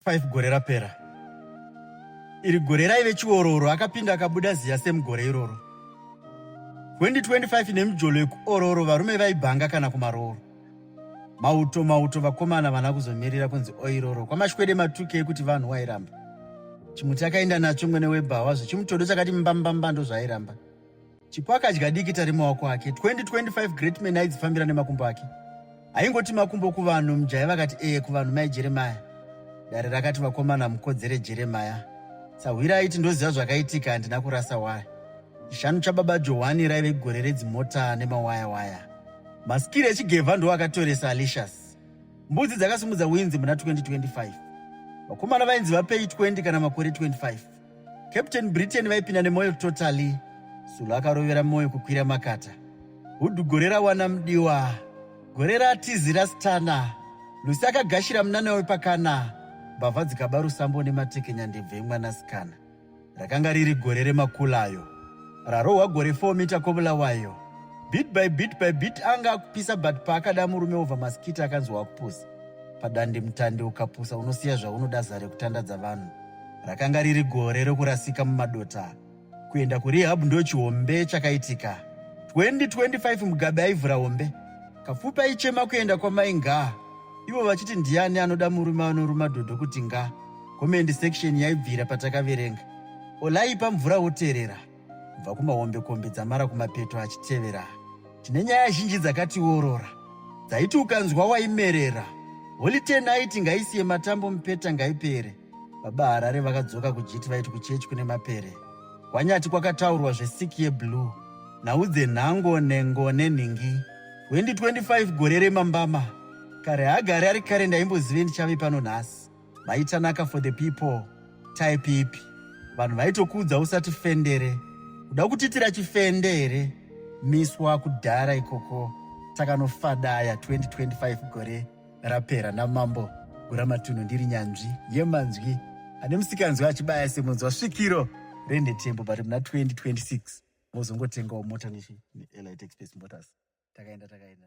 5 gore rapera iri gore raive chiororo akapinda akabuda ziya semugore iroro 2025 nemijolo yekuororo varume vaibhanga kana kumarooro mauto mauto vakomana vana kuzomirira kunzi oiroro kwamashwede matuke ekuti vanhu wairamba chimuti akaenda nacho mwene webhawa zvechimutodo chakati mbambamba ndozvaairamba Chipo akadya diki tari maoko ake 2025 great man aidzifambira nemakumbo ake aingoti makumbo kuvanhu mjaya vakati ee kuvanhu mai jeremaya dare rakati vakomana mukodzere jeremaya sahwira aiti ndoziva zvakaitika handina kurasa waya chishanu chababa johani raive gore redzimota nemawaya waya masikiri echigevha ndo akatoresa alicious mbudzi dzakasimudza winzi muna 2025 vakomana vainzi vapei 20 kana makore 25 Captain Britain vaipinda nemoyo totally. Sulu akarovera moyo kukwira makata. Hudhu gore rawana mudiwa. Gore ratizi rasitana. Lucy akagashira munana wepakana. Mbavha dzikaba rusambo nematekenya ndebve emwanasikana. Rakanga riri gore remakulayo. Rarohwa gore 4 mita kobula wayo. Bit by bit by bit anga akupisa but paakada murume over maskita akanzwa akupusa. Padande mutande ukapusa unosiya zvaunoda zare kutandadza vanhu. Rakanga riri gore rokurasika mumadota. Kuenda kurehab ndo chihombe chakaitika. 2025 Mugabe aivhura hombe. Kapfupi aichema kuenda kwamai ngaa. Ivo vachiti ndiani anoda murume anoruma dhodho kuti ngaa. Comment section yaibvira patakaverenga. Olaipa mvura woterera. kubva kumahombekombe dzamara kumapeto achitevera tine nyaya zhinji dzakatiorora dzaiti ukanzwa waimerera holite naiti ngaisiye matambo mupeta ngaipere baba harare vakadzoka kujiti vaiti kuchechi kune mapere kwanyati kwakataurwa zvesiki yeblue nhau dzenhango nhengo nenhingi 2025 gore remambama kare hagare ari kare ndaimbozive ndichave pano nhasi vaitanaka for the people type ipi vanhu vaitokuudza usati fendere kuda kutitira chifende here miswa kudhara ikoko takanofadaya 2025 gore rapera namambo guramatunhu ndiri nyanzvi yemanzwi ane musikanzwi achibaya semunzwa svikiro rendetembo but muna 2026 mozongotengawo mota neelite express motors takaenda takaenda